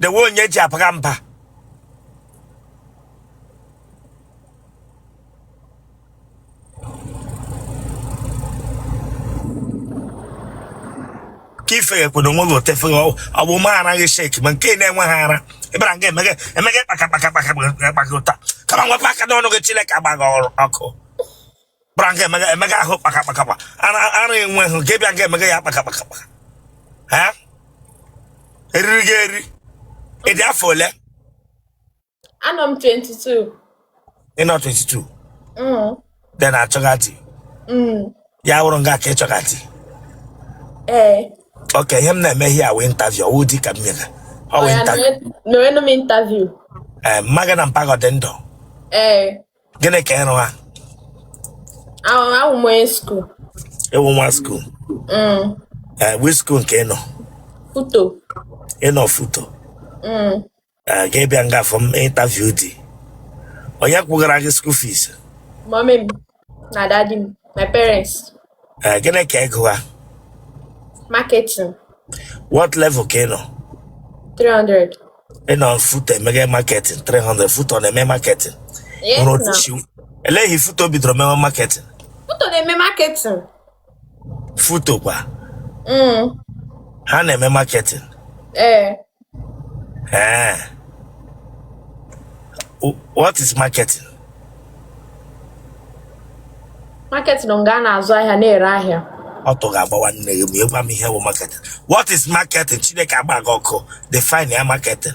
dewe onye ji abara mba ka ifere kwere onwe gị otefere ọgbụ ma anaghị shake ma nke na-enweghị ara ị bịara nga emeghe emeghe kpaka kpaka kpaka kpaka ụta kama wepụ aka n'ọnụ gị chineke agba gị ọkụ bara nga emega emega ahụ kpakakpakakpa ara ara enweghị nke bịa nga emega ya kpakakpakakpa ha eriri gị eri ị dị afọ ole Anọ m 22. ị nọ 22 Mm. ị na-achọga di Mm. ya wụrụ nga ka ị chọga di Ee. okay ihe m na-eme here wụ interview ọ wụ di ka m mega ọ wee Ọya interview nọrọ- nọrọnụ m interview. ee mmaga na mpaghọ dị ndụ Ee. gịnị ka ịrụ ha Ahụ ahụ m onye skuul. ịwụ nwa skuul Mm. ee wi skuul nke ịnọ Foto. ịnọ foto Mm. ee gị bịa nga afọ m ịntaviu di onye kwụgara gị skuul fiis Mọmị m na dadi m. My parents. Eh, gịnị ka ị gụgha marketing what level ka ị nọ 300 ị nọ FUTO emega marketing 300 FUTO ọ na-eme marketing yes nwere otu na si eleghị FUTO bidoro mewe marketing FUTO na-eme marketing FUTO kwa mm. ha na-eme marketing ee Eh. Wh- What is marketing? marketing bụ nga a na-azụ ahịa na-ere ahịa Ọtụ ga-agbawa nne gị ma ị gwa m ihe wụ marketing. What is marketing? Chineke agba gị ọkụ. Define ya marketing.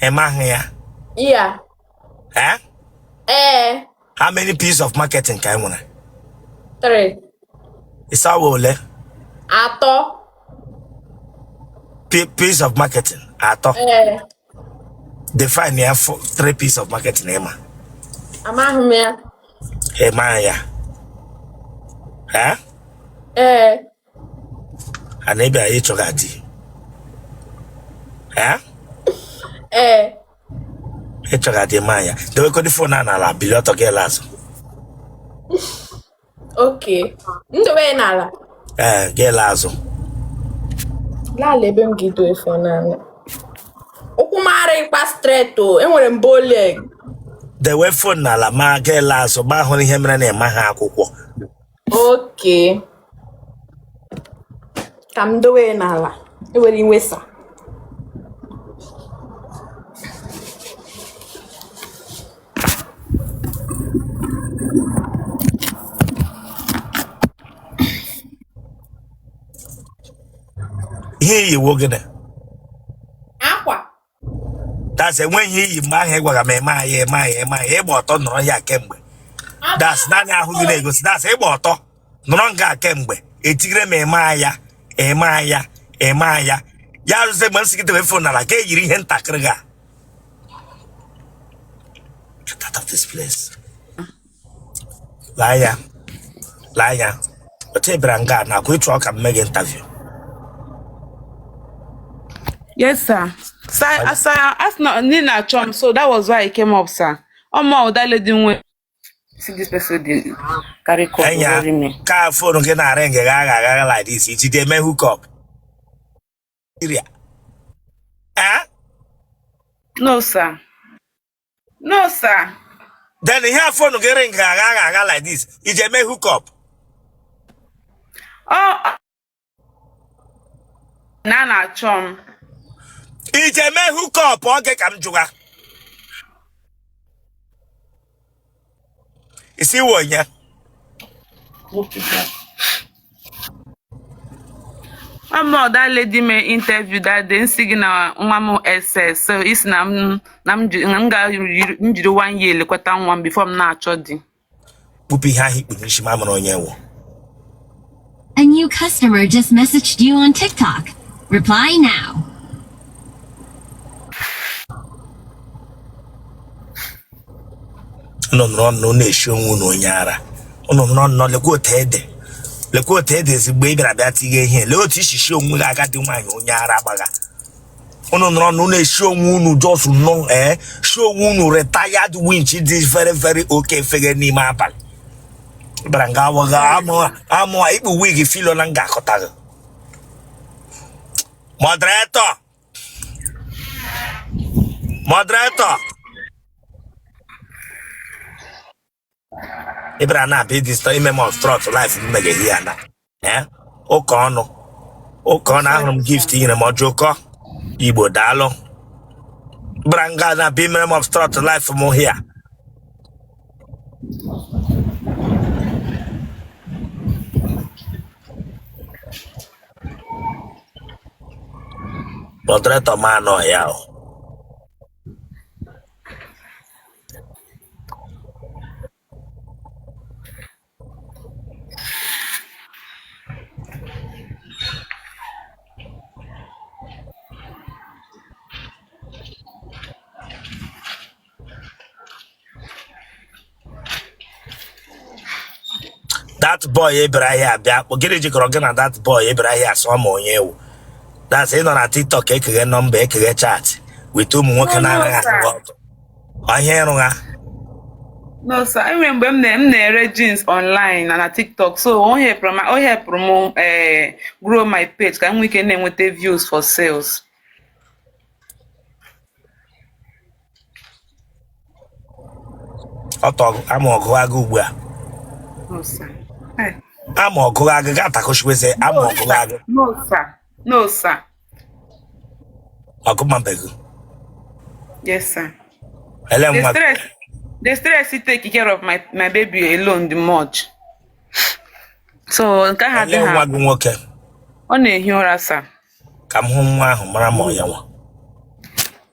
ị maghị ya Yeah. eh? Ee. how many Ps of marketing ka e nwere Three. ị sị ọ wụ ole Atọ. P- Ps of marketing atọ Ee. define ya three Ps of marketing ị ma Amaghị m ya. ị maghị ya eh? Ee. and ị bịa chọga di ee ee ị chọga di ma ya dewegodi phone a n'ala bili ọtọ gị alaa azụ okay m dowe ya n'ala ee gị alaa azụ laala ebe m ga-edo phone n'ala ụkwụ m arịkwa straight o enwere m bow leg dewe phone n'ala ma gị alaa azụ ma hụrụ ihe mere na ị maghị akwụkwọ okay ka m dowe ya n'ala ewere iwe sir ihe i yi wụ gịnị that's enweghị ihe i yi mgbe ahụ ị gwara m I am here I am here I am here ị gba ọtọ nọrọ ya kemgbe that's naanị ahụ gị na-egosi that's ị gba ọtọ nọrọ nga kemgbe etigire m I am here I am here I am here ya ruzie mgbe m sị gị debe fon n'ala ka i yiri ihe ntakịrị ga get out of this place Lee ya, lee ya. Otu ị bịara nga a nakwa ị chọ ka m mee gị interview. Yes, sir. Sir, sir, a sị na ị na-achọ m, so that was why I came up, sir. Ọ mụ wụ that lady nwe. See this person dey carry call dey worry me. ka fonu gị na-aring agha agha agha like this, i ji ya eme hookup. Nigeria. Eh? No, sir. no sir then ihe a fon gị ring agha agha agha like this i ji eme hook up ọ na a na-achọ m i ji eme hook up okay ka m jụọ gị ị sị ị wụ onye Mụwa wụ that lady me interview that day m sị gị na nwa m SS so ị sị na m na m ji- na m ga m jiri one year lekwata nwa m before m na-achọ di kpupụ ihe ahụ i kpu n'ishi ka m mara onye ị wụ A new customer just messaged you on TikTok. Reply now. unu nọrọ nnọọ na-eshi onwe unu onye ara unu nọrọ nnọọ lekwa otu ị dị lekwa otu ị dị ezigbo ị bịara bịa tinye ihe lee otu i si eshi onwe gị agadi nwaanyị onye ara gbagha unu nọrọ na unu esi onwe unu just nọ ee eh, si onwe unu retired winch dị very very okay efeghe n'ime abalị ị bịara nga awagha amụ a i kpu wig filo na nga akọtaghị moderator moderator ị bịara nga abịa ịdisturb ime m obstruct live m mege here na ee ụka ọnụ ụka ọnụ ahụrụ m gift i nyere m Ojukwu Igbo daalụ bịara nga na-abịa imere m obstruct live m here moderator m anọ ya o that boy Ibrahim bịa kọọ gịnị jikọrọ gị na that boy Ibrahim asụọ ma onye ewu that's ị nọ na tiktok ekeghe nọmba ekeghe chat with ụmụ nwoke na-anaghị ahụ ọtọ Ọ ihe ị rụgha. No, sir. Enwere mgbe m na- m na-ere jeans online na na TikTok so o helpụrụ m o helpụrụ m eh, grow my page ka m nwee ike na-enweta views for sales. Ọ tọgụ ama ọgụ agụ ugbu a. No, sir. Eh, Ama ọgụ agụ ga-atakọchikweze ama No, ọgụ sir. agụ. No, sir. No, sir. agụmabeghị yes sir ele the nwa stress the stress take care of my my baby alone dị much so nke ha ele dị nwa ha gị nwoke ọ na-ehi ụra sir ka m hụ nwa ahụ mara ma ọ ya nwa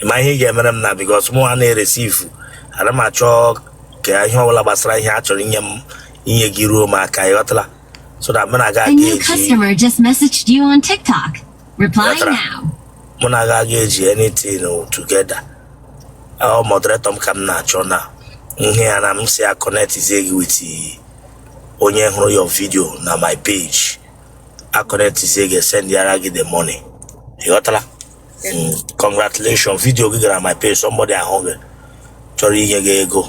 ị ma ihe ị ga-emere m now because mụ a na-eresivu ana m achọ ka ihe ọbụla gbasara ihe a chọrọ inye m inye gị ruo m aka ị ghọtala so that mụ na aga aga eji mụ na aga aga eji anything together ọ moderator m ka m na-achọ na ihe ya na m si a connectizie gị with onye hụrụ your video na my page a connectizie gị sendịara gị the money ị ghọtala Mm, congratulations video gị gara my page somebody ahụ gị chọrọ inye gị ego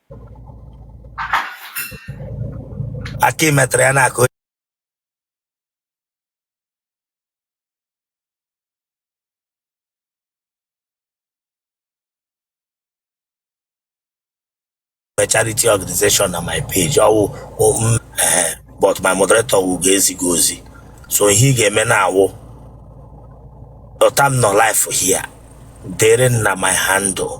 aka imetara ya na-akụ a charity organization na my page ọwụ m eh, but my moderator wụ ga-ezi gị ozi so ihe ị ga-eme now wụ otu a m nọ live here dere na my handle